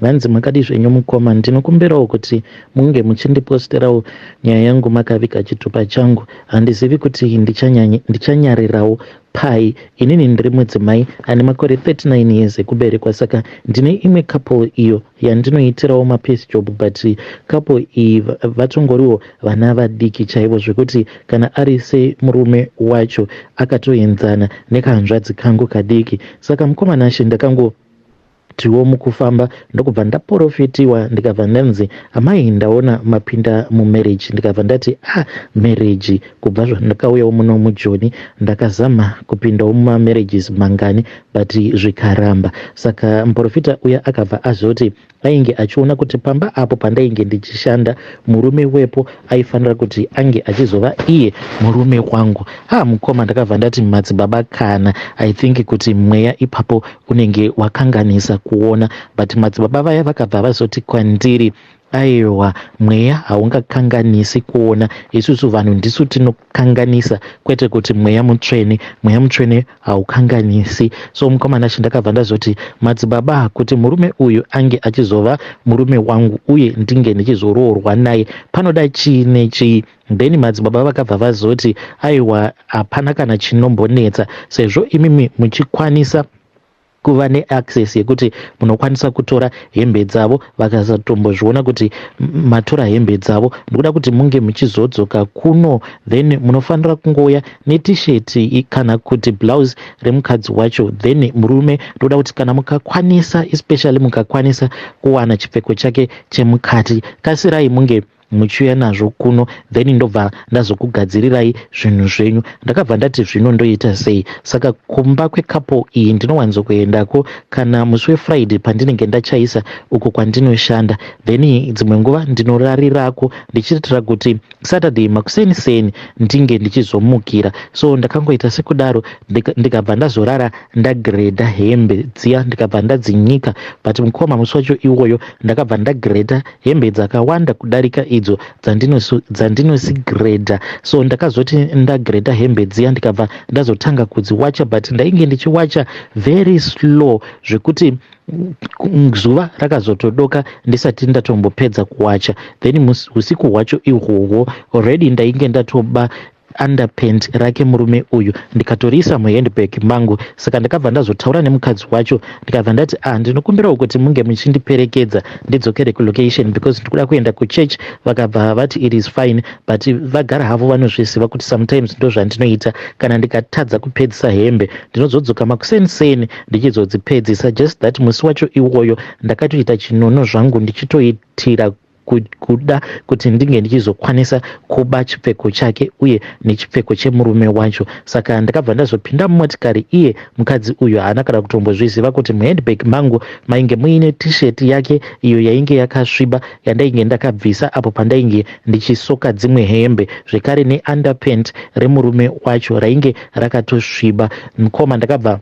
Vanzi makadii zvenyu mukoma ndinokumbirawo kuti munge muchindiposterawo nyaya yangu makaviga chitupa changu handizivi kuti ndichanyarirawo pai inini ndiri mudzimai ane makore 39 years ekuberekwa saka ndine imwe couple iyo yandinoitirawo mapiece job but couple iyi vatongoriwo vana vadiki chaivo zvekuti kana ari semurume wacho akatoenzana nekahanzvadzi kangu kadiki saka mukomanashe ndakango Tiwo mukufamba ndokubva ndaporofitiwa ndikabva ndanzi amai ndaona mapinda mumarriage ndikabva ndati ah marriage kubva zvandakauyawo muno mujoni ndakazama kupindawo mumamarriages mangani but zvikaramba saka muporofita uya akabva azoti ainge achiona kuti pamba apo pandainge ndichishanda murume wepo aifanira kuti ange achizova iye murume wangu ha mukoma ndakabva ndati madzibaba kana i think kuti mweya ipapo unenge wakanganisa kuona but madzibaba vaya vakabva vazoti kwandiri aiwa mweya haungakanganisi kuona isusu vanhu ndisu tinokanganisa kwete kuti mweya mutsvene mweya mutsvene haukanganisi so mukomana chi ndakabva ndazoti madzibaba kuti murume uyu ange achizova murume wangu uye ndinge ndichizoroorwa naye panoda chii nechii Then madzibaba vakabva vazoti aiwa hapana kana chinombonetsa sezvo imimi muchikwanisa kuva neaccess yekuti munokwanisa kutora hembe dzavo vakasatombozviona kuti matora hembe dzavo ndikuda kuti munge muchizodzoka kuno then munofanira kungouya netisheti kana kuti blouse remukadzi wacho then murume ndikuda kuti kana mukakwanisa especially mukakwanisa kuwana chipfeko chake chemukati kasirai munge muchiuya nazvo kuno then ndobva ndazokugadzirirai zvinhu zvenyu ndakabva ndati zvino ndoita sei saka kumba kwecouple iyi ndinowanzokuendako kana musi wefriday pandinenge ndachaisa uko kwandinoshanda then dzimwe nguva ndinorarirako ndichiitira kuti saturday makuseni seni ndinge ndichizomukira so ndakangoita sekudaro ndikabva ndazorara ndagreda hembe dziya ndikabva ndadzinyika but mukoma musi wacho iwoyo ndakabva ndagreda hembe dzakawanda kudarika idzo dzandinosigreda so ndakazoti ndagreda hembe dziya ndikabva ndazotanga kudziwacha but ndainge ndichiwacha very slow zvekuti zuva rakazotodoka ndisati ndatombopedza kuwacha then usiku hwacho ihwohwo already ndainge ndatoba underpant rake murume uyu ndikatoriisa muhandbag mangu saka ndakabva ndazotaura nemukadzi wacho ndikabva ndati ah ndinokumbirawo kuti munge muchindiperekedza ndidzokere kulocation because ndikuda kuenda kuchurch vakabva vati it is fine but vagara havo vanozviziva kuti sometimes ndozvandinoita kana ndikatadza kupedzisa hembe ndinozodzoka makuseni seni ndichizodzipedzisa just that musi wacho iwoyo ndakatoita chinono zvangu ndichitoitira kuda kuti ndinge ndichizokwanisa kuba chipfeko chake uye nechipfeko chemurume wacho saka ndakabva ndazopinda mumotikari iye mukadzi uyu haana kana kutombozviziva kuti muhandbag mangu mainge muine t-shirt yake iyo yainge yakasviba yandainge ndakabvisa apo pandainge ndichisoka dzimwe hembe zvekare neunderpant remurume wacho rainge rakatosviba mukoma ndakabva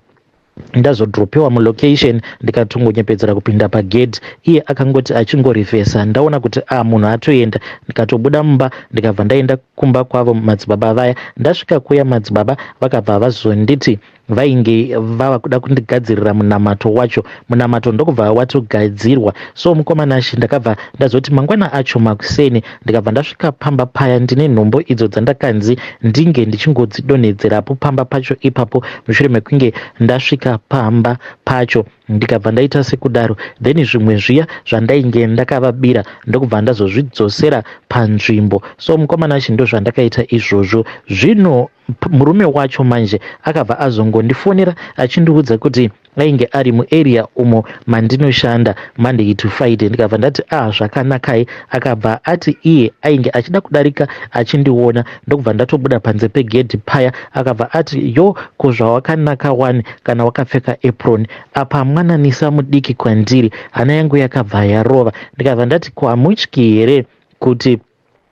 ndazodropewa mulocation ndikatongonyepedzera kupinda pagedhi iye akangoti achingorivhesa ndaona kuti a ah, munhu atoenda ndikatobuda mumba ndikabva ndaenda kumba kwavo madzibaba vaya ndasvika kuya madzibaba vakabva vazonditi vainge vava kuda kundigadzirira munamato wacho munamato ndokubva watogadzirwa so mukomana shi ndakabva ndazoti mangwana acho makuseni ndikabva ndasvika pamba paya ndine nhombo idzo dzandakanzi ndinge ndichingodzidonhedzerapo pamba pacho ipapo mushure mekunge ndasvika pamba pacho ndikabva ndaita sekudaro then zvimwe zviya zvandainge ndakavabira ndokubva ndazozvidzosera panzvimbo so mukomana chi ndozvandakaita izvozvo zvino murume wacho manje akabva azongondifonera achindiudza kuti ainge ari muarea umo mandinoshanda monday to friday ndikabva ndati a ah, zvakanakai akabva ati iye ainge achida kudarika achindiona ndokubva ndatobuda panze pegedhi paya akabva ati yo ko zvawakanaka wani kana wakapfeka apron apa mwananisa mudiki kwandiri hana yangu yakabva yarova ndikabva ndati ko hamutyi here kuti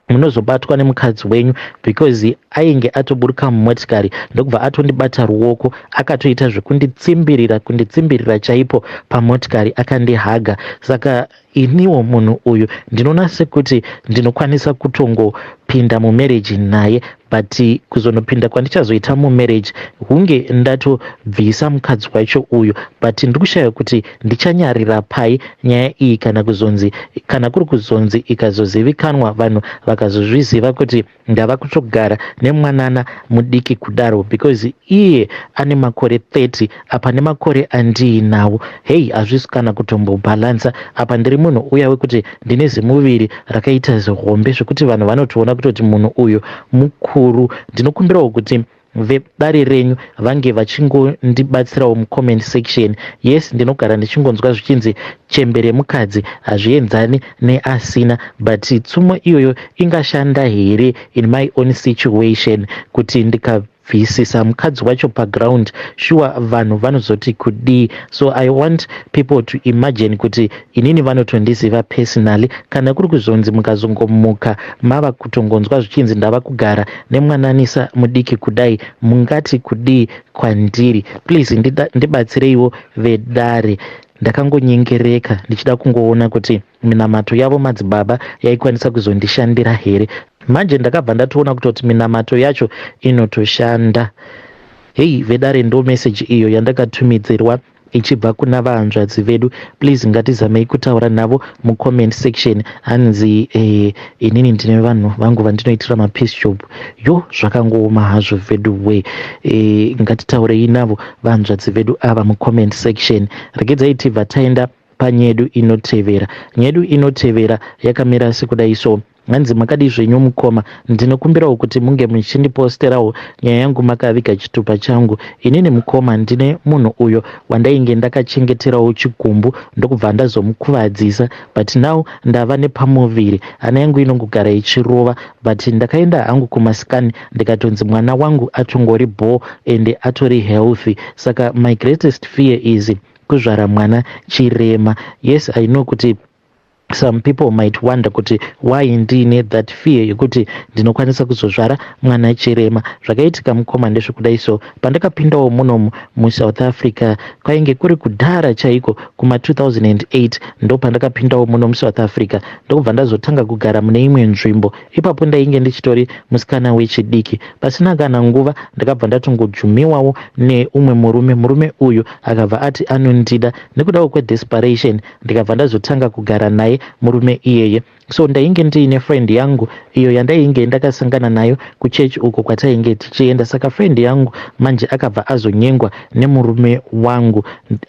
munozobatwa nemukadzi wenyu because ainge atoburuka mumotikari ndokubva atondibata ruoko akatoita zvekunditsimbirira kunditsimbirira chaipo pamotikari akandihaga saka iniwo munhu uyu ndinoona sekuti ndinokwanisa kutongopinda mumereji naye but kuzonopinda kwandichazoita mumarriage hunge ndatobvisa mukadzi wacho uyu but ndiri kushaya kuti ndichanyarira pai nyaya iyi kana kuzonzi kana kuri kuzonzi ikazozivikanwa vanhu vakazozviziva kuti ndava kutogara nemwanana mudiki kudaro because iye ane makore 30 apa nemakore andiinawo hei hazvisi kana kutombobhalansa apa ndiri munhu uya wekuti ndine zimuviri rakaita zihombe zvekuti vanhu vanotoona kutoti munhu uyu mukuru ndinokumbirawo kuti vedare renyu vange vachingondibatsirawo mucomment section yes ndinogara ndichingonzwa zvichinzi chembe remukadzi hazvienzani neasina but tsumo iyoyo ingashanda here in my own situation kuti ndika bvisisa mukadzi wacho paground shuwa vanhu vanozoti kudii so i want people to imagine kuti inini vanotondiziva personally kana kuri kuzonzi mukazongomuka mava kutongonzwa zvichinzi ndava kugara nemwananisa mudiki kudai mungati kudii kwandiri please ndibatsireiwo vedare ndakangonyengereka ndichida kungoona kuti Minamato yavo madzibaba yaikwanisa kuzondishandira here? Manje ndakabva ndatoona kutoti minamato yacho inotoshanda. Heyi vedare ndo message iyo yandakatumidzirwa ichibva kuna vahanzvadzi vedu. Please ngatizamei kutaura navo mucomment section hanzi eh, inini ndine vanhu vangu vandinoitira mapeace job. Yo zvakangooma hazvo veduwee. Eh, ngatitaurei navo vahanzvadzi vedu ava mucomment section. Regedzai tibva taenda panyedu inotevera. Nyedu inotevera yakamira sekudai so. Hanzi makadii zvenyu mukoma, ndinokumbirawo kuti munge muchindiposterawo nyaya yangu makaviga chitupa changu. Inini mukoma ndine munhu uyo wandainge ndakachengeterawo chigumbu ndokubva ndazomukuvadzisa but now ndava nepamuviri. Hana yangu inongogara ichirova but ndakaenda hangu kumascan ndikatonzi mwana wangu atongori bhoo ende atori healthy saka my greatest fear is kuzvara mwana chirema yes i know kuti some people might wonder kuti why ndiine that fear yekuti ndinokwanisa kuzozvara mwana chirema zvakaitika mukoma ndezvekudai so pandakapindawo munomu musouth africa kwainge kuri kudhara chaiko kuma 2008 ndopandakapindawo muno musouth africa ndokubva ndazotanga kugara mune imwe nzvimbo Ipapo ndainge ndichitori musikana wechidiki. Pasina kana nguva ndakabva ndatongojumiwawo neumwe murume. Murume uyu akabva ati anondida. Nekudawo kwedesperation ndikabva ndazotanga kugara naye murume iyeye. So ndainge ndiine friend yangu iyo yandainge ndakasangana nayo kuchurch uko kwatainge tichienda. Saka friend yangu manje akabva azonyengwa nemurume wangu.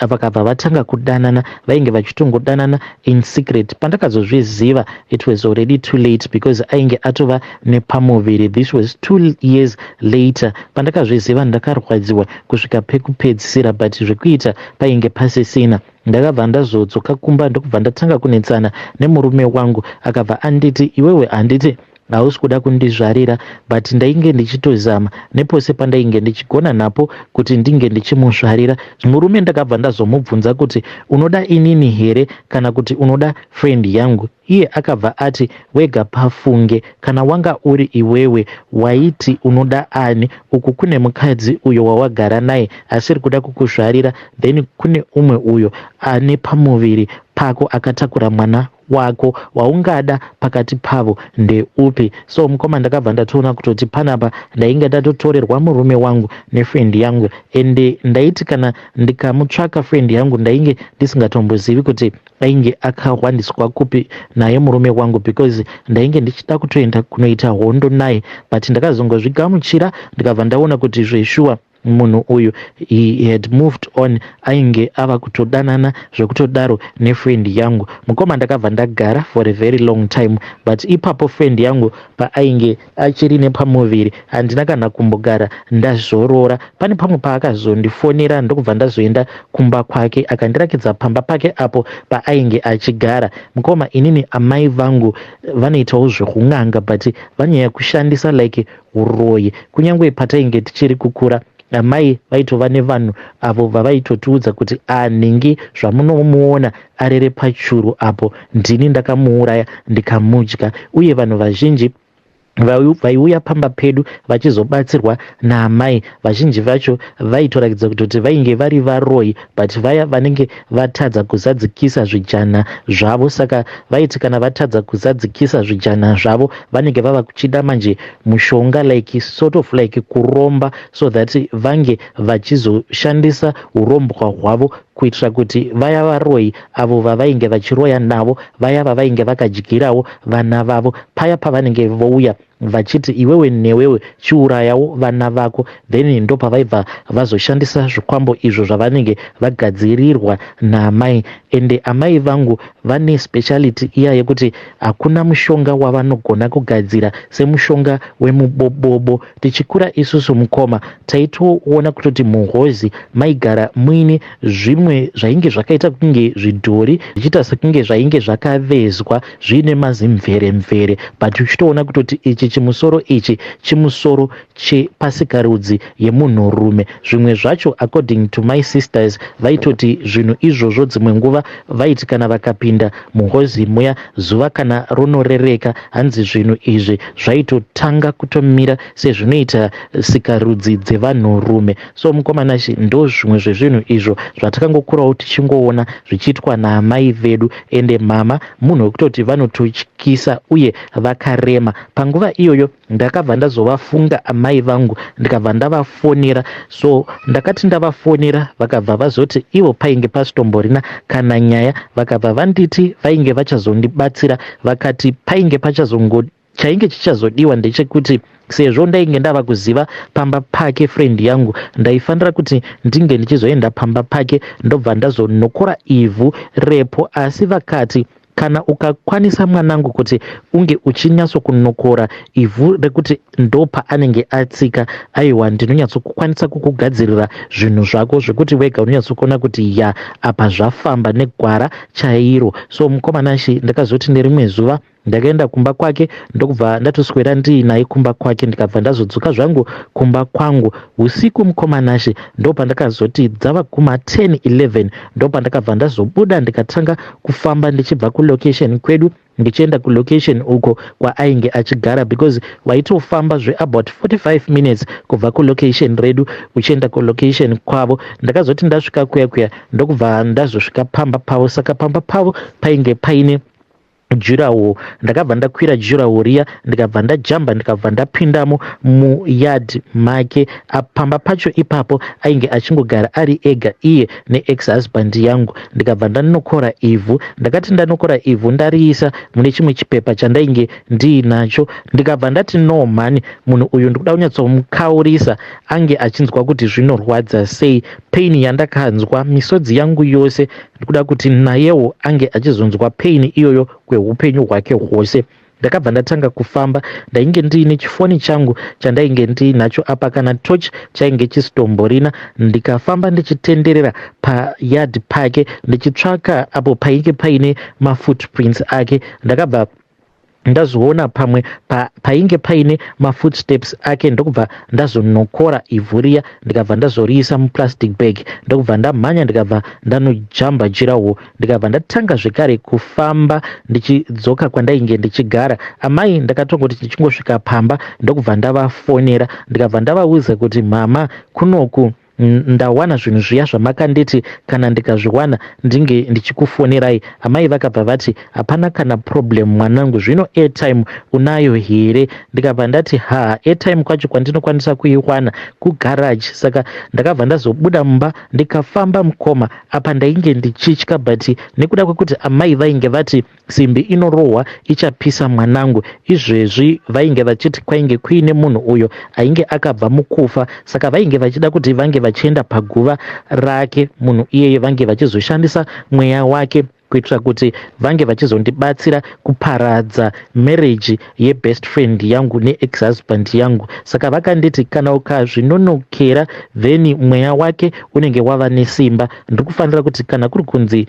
Vakabva vatanga kudanana. Vainge vachitongodanana in secret pandakazozviziva it was already too late because ainge atova nepamuviri this was two years later pandakazviziva ndakarwadziwa kusvika pekupedzisira but zvekuita painge pasisina ndakabva ndazodzoka kumba ndokubva ndatanga kunetsana nemurume wangu akabva anditi iwewe handiti Hausi kuda kundizvarira but ndainge ndichitozama nepose pandainge ndichigona napo kuti ndinge ndichimuzvarira. Murume ndakabva ndazomubvunza kuti unoda inini here kana kuti unoda friend yangu iye akabva ati wega pafunge kana wanga uri iwewe waiti unoda ani uku kune mukadzi uyo wawagara naye asiri kuda kukuzvarira then kune umwe uyo ane pamuviri pako akatakura mwana wako waungada pakati pavo ndeupi so mukoma ndakabva ndatoona kutoti panapa ndainge ndatotorerwa murume wangu nefrendi yangu and ndaiti kana ndikamutsvaka frendi yangu ndainge ndisingatombozivi kuti ainge akahwandiswa kupi naye murume wangu because ndainge ndichida kutoenda kunoita hondo naye but ndakazongozvigamuchira ndikabva ndaona kuti zveshuwa Munhu uyu he had moved on ainge ava kutodanana zvekutodaro nefriend yangu. Mukoma ndakabva ndagara for a very long time but ipapo friend yangu paainge achiri nepamuviri handina kana kumbogara ndazorora. Pane pamwe paakazondifonera ndokubva ndazoenda kumba kwake akandirakidza pamba pake apo paainge achigara. Mukoma inini amai vangu vanoitawo zvehun'anga but vanyaya kushandisa like huroyi. Kunyangwe patainge tichiri kukura, amai vaitova nevanhu avo vavaitotiudza kuti ah nhingi zvamunomuona arere pachuru apo ndini ndakamuuraya ndikamudya uye vanhu vazhinji vaiuya pamba pedu vachizobatsirwa naamai vazhinji vacho vaitorakidza kutoti vainge vari varoyi but vaya vanenge vatadza kuzadzikisa zvijana zvavo saka vaiti kana vatadza kuzadzikisa zvijana zvavo vanenge vava kuchida manje mushonga like sort of like kuromba so that vange vachizoshandisa urombwa hwavo kuitira kuti vaya varoyi avo vavainge vachiroya navo vaya vavainge vakadyirawo vana vavo paya pavanenge vouya vachiti iwewe newewe chiurayawo vana vako then ndopavaibva vazoshandisa zvikwambo izvo zvavanenge vagadzirirwa naamai ende amai vangu vane speciality iya yekuti hakuna mushonga wavanogona kugadzira semushonga wemubobobo tichikura isusu mukoma taitoona kutoti muhozi maigara muine zvimwe zvainge zvakaita kunge zvidhori zvichiita sekunge zvainge zvakavezwa zviine mazimvere mvere but uchitoona kutoti ichi chimusoro ichi chimusoro chepasikarudzi yemunhurume zvimwe zvacho according to my sisters vaitoti zvinhu izvozvo dzimwe nguva vaiti kana vakapinda muhozi muya zuva kana ronorereka hanzi zvinhu izvi zvaitotanga kutomira sezvinoita sikarudzi dzevanhurume so mukomanashi ndo zvimwe zvezvinhu izvo zvatakangokurawo tichingoona zvichiitwa naamai vedu Ende mhamha munhu wekutoti vanototyisa uye vakarema. Panguva iyoyo ndakabva ndazovafunga amai vangu ndikabva ndavafonera so ndakati ndavafonera vakabva vazoti ivo painge pasitomborina kana nyaya vakabva vanditi vainge vachazondibatsira vakati painge pachazongo Chainge chichazodiwa ndechekuti sezvo ndainge ndava kuziva pamba pake friend yangu ndaifanira kuti ndinge ndichizoenda pamba pake ndobva ndazonokora ivhu repo asi vakati kana ukakwanisa mwanangu kuti unge uchinyatsokunokora ivhu rekuti ndopa anenge atsika aiwa ndinonyatsokukwanisa kukugadzirira zvinhu zvako zvekuti wega unonyatsokuona kuti ya apa zvafamba negwara chairo so mukomanashi ndakazoti nerimwe zuva Ndakaenda kumba kwake ndokubva ndatoswera ndiinaye kumba kwake ndikabva ndazodzoka zvangu kumba kwangu husiku mukoma Nashe ndopandakazoti dzava kuma 10 11 ndopandakabva ndazobuda ndikatanga kufamba ndichibva kulocation kwedu ndichienda kulocation uko kwaainge achigara because waitofamba zveabout 45 minutes kubva kulocation redu uchienda kulocation kwavo ndakazoti ndasvika kuya kuya ndokubva ndazosvika pamba pavo saka pamba pavo painge paine jurawo ndakabva ndakwira jurawo riya ndikabva ndajamba ndikabva ndapindamo muyard make apamba pacho ipapo ainge achingogara ari ega iye neex husband yangu ndikabva ndanokora ivhu ndakati ndanokora ivhu ndariisa mune chimwe chipepa chandainge ndiinacho ndikabva ndati no mhani munhu uyu ndikuda kunyatsomukaurisa ange achinzwa kuti zvinorwadza sei pain yandakanzwa misodzi yangu yose Ndikuda kuti nayewo ange achizonzwa pain iyoyo kwehupenyu hwake hwose. Ndakabva ndatanga kufamba. Ndainge ndiine chifoni changu chandainge ndiinacho apa kana torch chainge chisitomborina. Ndikafamba ndichitenderera payard pake ndichitsvaka apo painge paine mafootprints ake. Ndakabva ndazviona pamwe pa, painge paine mafootsteps ake ndokubva ndazonokora ivhu riya ndikabva ndazoriisa muplastic bag ndokubva ndamhanya ndikabva ndanojamba jirawo ndikabva ndatanga zvekare kufamba ndichidzoka kwandainge ndichigara amai ndakatongoti ndichingosvika pamba ndokubva ndavafonera ndikabva ndavauza kuti mama kunoku Ndawana zvinhu zviya zvamakanditi kana ndikazviwana ndinge ndichikufonerai. Amai vakabva vati, Hapana kana problem mwanangu, zvino airtime unayo here? Ndikabva ndati, Haa, airtime kwacho kwandinokwanisa kuiwana kugarage. Saka ndakabva ndazobuda mumba ndikafamba mukoma. Apa ndainge ndichitya but nekuda kwekuti amai vainge vati, Simbi inorohwa ichapisa mwanangu. Izvezvi vainge vachiti kwainge kuine munhu uyo ainge akabva mukufa saka vainge vachida kuti vange vachienda paguva rake munhu iyeye vange vachizoshandisa mweya wake kuitira kuti vange vachizondibatsira kuparadza marriage ye best friend yangu ne ex husband yangu saka vakanditi kana ukazvinonokera then mweya wake unenge wava nesimba ndrikufanira kuti kana kuri kunzi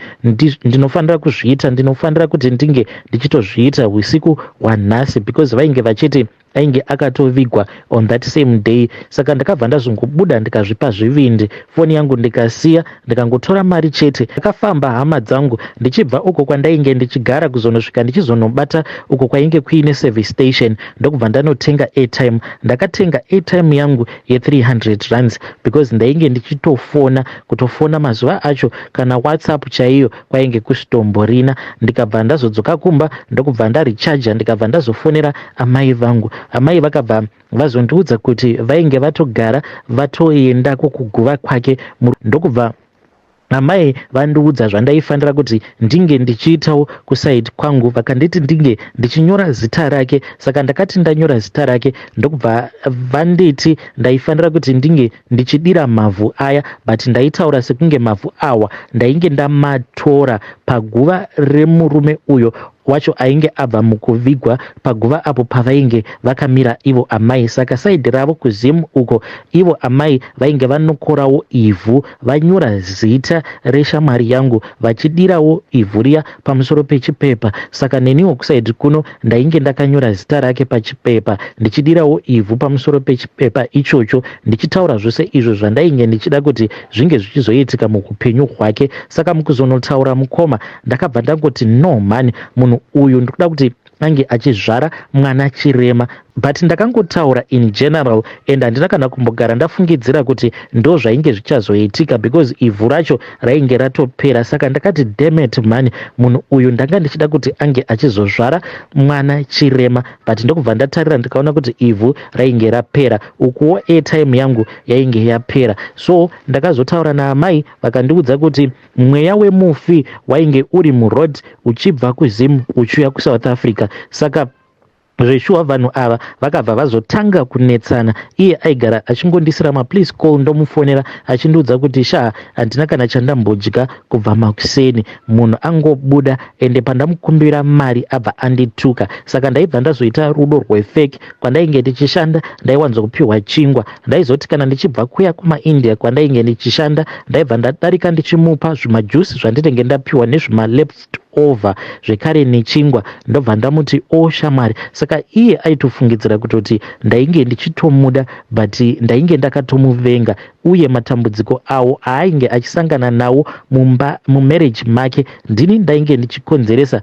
ndinofanira kuzviita ndinofanira kuti ndinge ndichitozviita husiku hwanhasi because vainge vachiti ainge akatovigwa on that same day saka ndakabva ndazongobuda ndikazvipa zvivindi foni yangu ndikasiya ndikangotora mari chete akafamba hama dzangu ndichibva uko kwandainge ndichigara kuzonosvika ndichizonobata uko kwainge kuine service station ndokubva ndanotenga airtime ndakatenga airtime yangu ye300 rands because ndainge ndichitofona kutofona mazuva acho kana whatsapp chaiyo kwainge kusitomborina ndikabva ndazodzoka kumba ndokubva ndarichaja ndikabva ndazofonera amai vangu amai vakabva vazondiudza kuti vainge vatogara vatoenda kokuguva kwake ndokubva amai vandiudza zvandaifanira kuti ndinge ndichiitawo kusaid kwangu vakanditi ndinge ndichinyora zita rake saka ndakati ndanyora zita rake ndokubva vanditi ndaifanira kuti ndinge ndichidira mavhu aya but ndaitaura sekunge mavhu awa ndainge ndamatora paguva remurume uyo wacho ainge abva mukuvigwa paguva apo pavainge vakamira ivo amai saka saidi ravo kuzim uko ivo amai vainge vanokorawo ivhu vanyora zita reshamwari yangu vachidirawo ivhu riya pamusoro pechipepa saka neniwo kuside kuno ndainge ndakanyora zita rake pachipepa ndichidirawo ivhu pamusoro pechipepa ichocho ndichitaura zvose izvo zvandainge ndichida kuti zvinge zvichizoitika muhupenyu hwake saka mukuzonotaura mukoma ndakabva ndangoti no mhani munhu uyu ndikuda kuti ange achizvara mwana chirema but ndakangotaura in general and handina kana kumbogara ndafungidzira kuti ndo zvainge zvichazoitika because ivhu racho rainge ratopera saka ndakati demet mhani munhu uyu ndanga ndichida kuti ange achizozvara mwana chirema but ndokubva ndatarira ndikaona kuti ivhu rainge rapera ukuwo airtime yangu yainge yapera so ndakazotaura naamai vakandiudza kuti Mweya wemufi wainge uri muroad uchibva kuZim uchiuya kuSouth Africa saka zveshuwa vanhu ava vakabva vazotanga kunetsana iye aigara achingondisirama please call ndomufonera achindiudza kuti shaa handina kana chandambodya kubva makuseni munhu angobuda ende pandamukumbira mari abva andituka saka ndaibva ndazoita rudo rwefek Kwandainge ndichishanda ndaiwanzo kupihwa chingwa. Ndaizoti kana ndichibva kuya kumaIndia kwandainge ndichishanda ndaibva ndadarika ndichimupa zvimajuice zvandinenge ndapihwa nezvimaleft over zvekare nechingwa ndobva ndamuti o oh, shamwari saka iye aitofungidzira kutoti ndainge ndichitomuda but ndainge ndakatomuvenga uye matambudziko awo aainge achisangana nawo mumba mumarriage make ndini ndainge ndichikonzeresa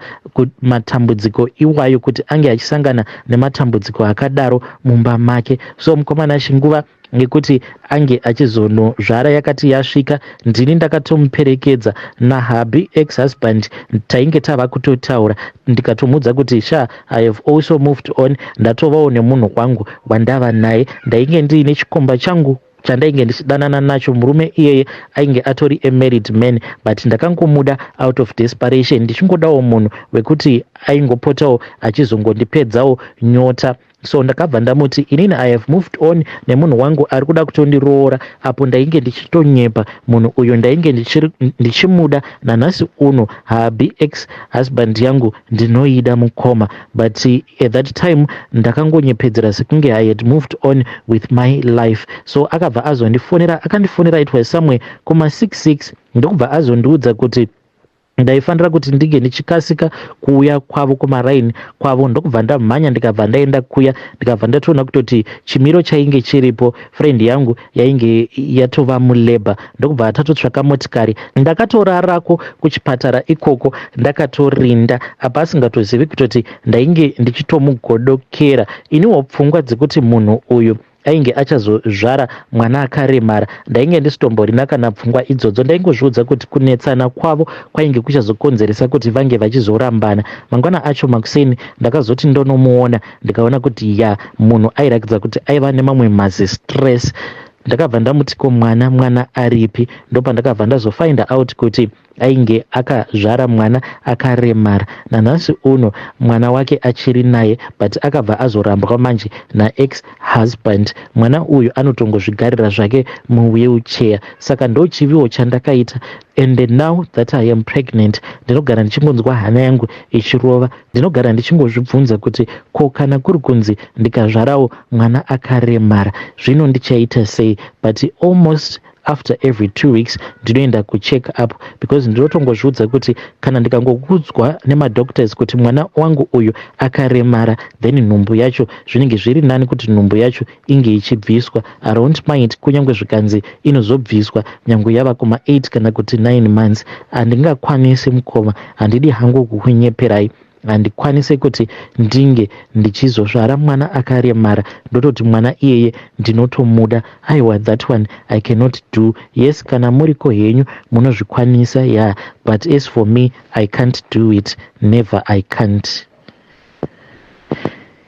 matambudziko iwayo kuti ange achisangana nematambudziko akadaro mumba make so mukomana chinguva ngekuti ange achizonozvara yakati yasvika ndini ndakatomuperekedza nahabhi ex husband tainge tava kutotaura ndikatomuudza kuti sha I have also moved on ndatovawo nemunhu kwangu wandava naye ndainge ndiine chikomba changu chandainge ndichidanana nacho murume iyeye ainge atori amarried man but ndakangomuda out of desperation ndichingodawo munhu wekuti aingopotawo achizongondipedzawo nyota so ndakabva ndamuti inini i have moved on nemunhu wangu ari kuda kutondiroora apo ndainge ndichitonyepa munhu uyo ndainge ndichimuda nanhasi uno haabi ex husband yangu Ndinoida mukoma but at that time ndakangonyepedzera sekunge I had moved on with my life so akabva azondifonera akandifonera it was somewhere kuma 6 6 ndokubva azondiudza kuti ndaifanira kuti ndinge ndichikasika kuuya kwavo kumaraini kwavo ndokubva ndamhanya ndikabva ndaenda kuya ndikabva ndatoona kutoti chimiro chainge chiripo friend yangu yainge yatova mulabour ndokubva tatotsvaka motikari ndakatorarako kuchipatara ikoko ndakatorinda apa asingatozivi kutoti ndainge ndichitomugodokera iniwo pfungwa dzekuti munhu uyu ainge achazozvara mwana akaremara ndainge ndisitomborina kana pfungwa idzodzo ndaingozviudza kuti kunetsana kwavo kwainge kuchazokonzeresa kuti vange vachizorambana mangwana acho makuseni ndakazoti ndonomuona ndikaona kuti ya munhu airakidza kuti aiva nemamwe mazi stress ndakabva ndamuti ko mwana mwana aripi ndopandakabva ndazofind out kuti ainge akazvara mwana akaremara nanhasi uno mwana wake achiri naye but akabva azorambwa manje naex husband mwana uyu anotongozvigarira zvake muwheelchair saka ndochiviwo chandakaita And now that I am pregnant ndinogara ndichingonzwa hana yangu ichirova. Ndinogara ndichingozvibvunza kuti ko kana kuri kunzi ndikazvarawo mwana akaremara zvino ndichaita sei but almost after every two weeks ndinoenda kucheck up because ndinotongozviudza kuti kana ndikangokudzwa nemadoctors kuti mwana wangu uyu akaremara then nhumbu yacho zvinenge zviri nani kuti nhumbu yacho inge ichibviswa I don't mind kunyangwe zvikanzi inozobviswa nyangwe yava kuma 8 kana kuti 9 months handingakwanisi mukoma handidi hangu kukunyeperai handikwanise kuti ndinge ndichizozvara mwana akaremara ndototi mwana iyeye ndinotomuda aiwa that one i cannot do yes kana muriko henyu munozvikwanisa ya yeah. but as for me i can't do it never i can't